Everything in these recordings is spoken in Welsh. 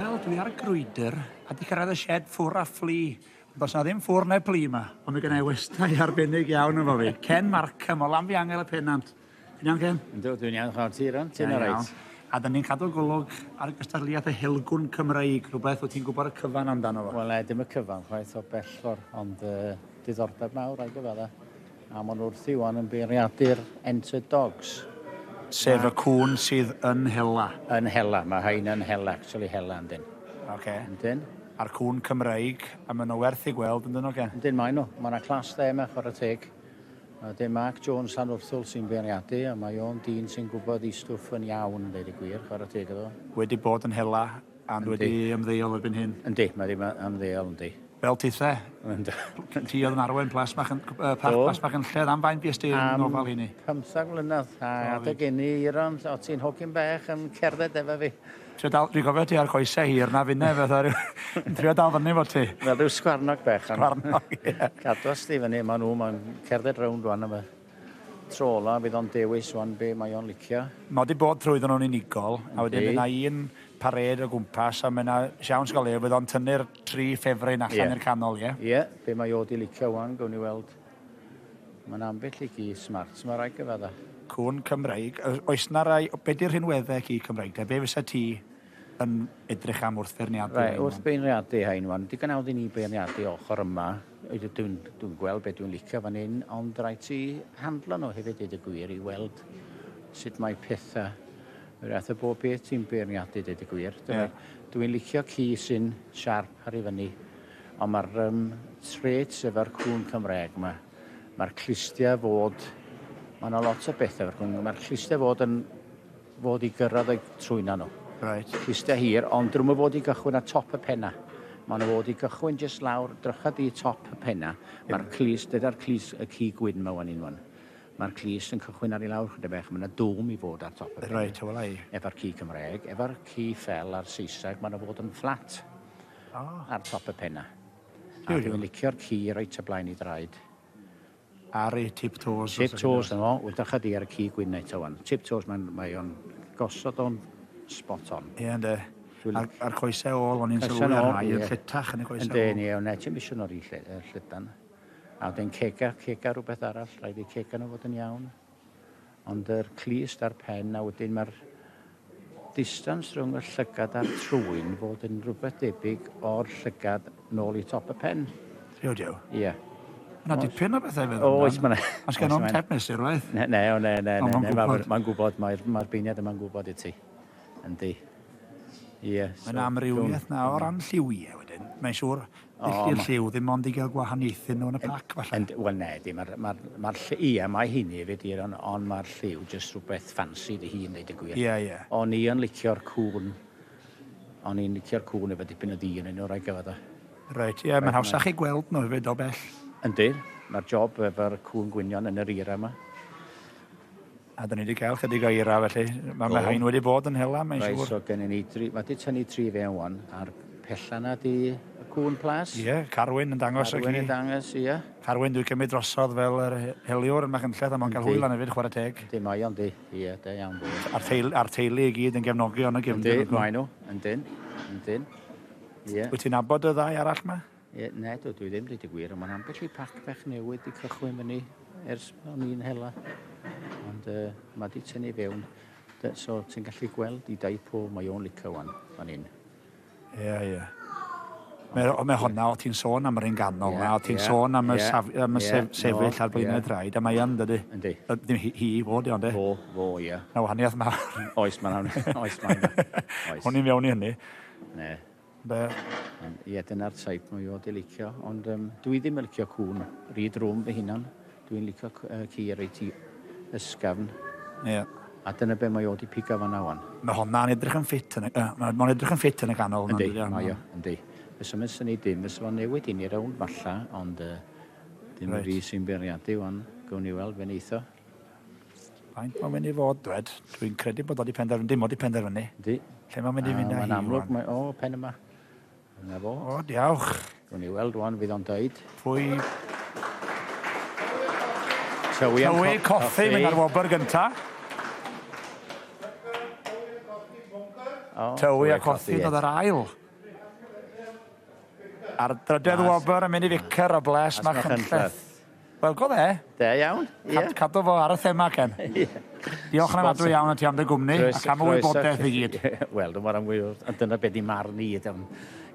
Wel, dwi ar y grwydr a 'di cyrraedd y shed ffwr a ffli. Ond does na ddim ffwr neu pli yma. Ond mae gennau westai arbennig iawn efo fi. Ken Markham o Lanfihangel y Pennant. Ti'n iawn, Ken? Yndw, dwi'n iawn, chwarae ti, Ron. Ti'n all right? A dyn ni'n cadw golwg ar gystadleuaeth y helgwn Cymreig, rhywbeth wyt ti'n gwybod y cyfan amdano fo? Wel, na, dim y cyfan chwaith o bell ffordd, ond uh, diddordeb mawr, rhaid gyfadda. A maen nhw wrthi wan yn beirniadu'r entered dogs. Sef y cŵn sydd yn hela? Yn hela, mae rhain yn hela, actually hela yndyn. Ok. Yndyn. A'r cŵn Cymreig, a maen nhw werth i gweld yndyn nhw gen? Yndyn maen nhw, mae yna class dde yma chwarae teg. A dim Mark Jones Llanwrthwl sy'n beirniadu, a mae o'n dyn sy'n gwybod ei stwff yn iawn, yn deud y gwir, chwarae teg iddo. Wedi bod yn hela. Andy. wedi ymddeol erbyn hyn. Yndi, mae ddim ymddeol, yndi. Fel ti the. Yndi. Ti oedd yn arwain Plas Bach yn, uh, Parc Plas Bach yn lled am fain bys ti'n nofal hynny? Am 15 mlynedd, a adeg inni Iron, o ti'n hogyn bach yn cerdded efo fi. Trio dal, dwi'n gofio ti ar coesau hir na finne, fatha rhyw... Trio dal fyny fo ti. Wel, rhyw sgwarnog bach. Sgwarnog, ie. Cadwas di fyny, maen nhw, maen cerdded rownd rwan yma. Tro ola bydd o'n dewis wan be mae o'n licio. Mae o 'di bod trwyddo nhw'n unigol a wedyn bydd 'na un parêd o gwmpas a mae 'na siawns go lew bydd o'n tynnu'r tri ffefryn allan i'r canol, ie? Ie, be mae o 'di licio wan, gewn ni weld. Mae 'na ambell i gi smart 'ma rhai gyfadda. Cŵn Cymreig. Oes 'na rai... Be 'di'r rhinweddau ci Cymreig de? Be fysa ti yn edrych am wrth feirniadu Reit, hein wrth beirniadu hein wan. Digon awdd i ni beirniadu ochr yma. Dwi'n dwi dwi gweld beth dwi'n licio fan hyn, ond rhaid ti handlo nhw hefyd dweud y gwir i weld sut mae pethau. Yr ath y bob beth ti'n beirniadu dweud y gwir. Yeah. Dwi'n licio ci sy'n siarp ar ei fyny. Ond mae'r um, traits efo'r cwn Cymraeg yma. Mae'r clustia fod... Mae yna lot o bethau efo'r cwn. Mae'r clustia fod yn fod i gyrraedd y trwyna nhw. Right. Iste hir, ond drwm o fod i gychwyn at top y penna. Mae'n o fod i gychwyn jyst lawr, drycha di top y penna. Mae'r clust, dyda'r clust y ci gwyn mae wan unwan. Mae'r clust yn cychwyn ar ei lawr chyda bech, mae'n dwm i fod ar top y penna. Right, well I. Efo'r ci Cymraeg, efo'r ci fel ar Saeseg, mae'n o fod yn fflat. Oh. Ar top y penna. Dwi'n licio'r ci reit y blaen i draed. Ar ei tip toes. Tip toes na fo. Wel drycha di ar y cig win eto wan. Tip toes mae'n mae o'n gosod o'n spot on. Ie ynde. A'r, ar coesau ôl o'n i'n sylwi ar rai yn lletach yn y coesau ôl. Ynde ni o'n eto misio nôl i llydan. A wedyn cega, cega rhywbeth arall, rhaid i cega nhw fod yn iawn. Ond yr clust a'r pen a wedyn mae'r distance rhwng y llygad a'r trwyn fod yn rhywbeth debyg o'r llygad nôl i top y pen. Dio dio. Ie. Yeah. Yna dipyn o bethau fe ddod. Oes, mae'n... Os gen o'n tep mesur, waith? Ne, ne, o, ne, ne, ne, ne, mae'n gwybod, mae'r mae beiniad yma'n gwybod i ti. Yndi. Ie. Mae'n amrywiaeth na o ran lliwiau wedyn. Mae'n siŵr Dydi'r lliw ddim ond i gael gwahaniaethu nhw yn y pac falle? Yn, wel na, di, mae'r ma ma lliw, ia, mae hyn i hefyd, ond on mae'r lliw jyst rhywbeth ffansi dy hun, dweud y gwir. Ia, ia. O'n i yn licio'r cŵn, o'n i'n licio'r cŵn efo dipyn o ddi yn un o'r rhaid gyfod o. Reit, ia, mae'n hawsach i gweld nhw hefyd o bell. Yndi, mae'r job efo'r cŵn gwynion yn yr era yma. A 'dan ni 'di cael chydig o eira felly. Mae ma' rhain wedi bod yn hela mae'n siŵr. Reit, so gennym ni dri... Mae 'di tynnu tri fe wan, a'r pella 'na 'di y cŵn plas. Ie, Carwyn yn dangos Carwyn yn dangos, ie. Carwyn dwi'n cymryd drosodd fel yr heliwr yn Machynlleth a mae'n cael hwyl lan hefyd, chwarae teg. Yndi, mae o'n di. Ie, da iawn. A'r teil- a'r teulu i gyd yn gefnogi o'n y gefndir. Yndi, mae nhw. Yndyn, yndyn. Ie. Wyt ti'n abod y ddau arall 'ma? Ie, na, dwi dwi ddim, dweud y gwir, ond mae'n ambell i pac bach newydd wedi cychwyn fyny ers o'n i'n hela. Ond uh, mae wedi tynnu fewn. Da- So, ti'n gallu gweld i dau po, mae o'n licio wan, fan hyn. Ie, ie. Mae, o- mae honna, o ti'n sôn am yr un ganol Ie, na, o ti'n ie, sôn am y, ie, saf, am y ie, sef, sefyll no, ar blaenau ie. draed, a mae yn dydy. Yndi. Yy, Ddim hi, hi i fod, ond e. Fo, fo, ie. Na wahaniaeth mawr. Oes, mae'n hawdd. Oes, mae'n hawdd. Oes. Hwn i'n fewn i hynny. Ne. Be? Ie, dyna'r type mwy o di licio, ond um, dwi ddim yn licio cwn. Rhi drwm fy hunan. Dwi'n licio uh, ci ar ei ti ysgafn. Ie. Yeah. A dyna be mae o di piga fan awan. Mae honna'n edrych yn ffit yn y... Uh, mae'n edrych yn ffit yn y ganol. Yndi, mae o, yndi. Fes yma sy'n ei dim, fes o'n newid i ni rawn falla, ond uh, dim right. fi sy'n beirniadu o'n gwn i weld fe'n eitho. Faint mae'n mynd i fod, Brad? Dwi'n credu bod o wedi penderfynu, dim ond wedi penderfynu. Di. Lle mae'n mynd i fynd â hi? Mae'n amlwg, mae, o, pen yma. Yna fo. O, diawch. Rwy'n ei weld rwan, fydd o'n dweud. Pwy? Tywi am Tywi coffi, mynd ar wobr gynta. Oh, Tywi a coffi, dod ar ail. Ar drydedd wobr yn mynd i ficer o bles, mae chynlleth. Wel go fe. Da iawn. Ia. Cadw fo ar y thema Ken. Ia. Diolch yn anadwy iawn i ti am dy gwmni ac am y wybodaeth i gyd. Wel dyma ran fwy a dyna be di marn i ydi o'n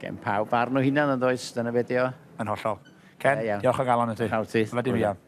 gen pawb barn o hunan yn does dyna be di o. Yn hollol. Ken, diolch o galon i ti. Pawb ti. Wedi fi am.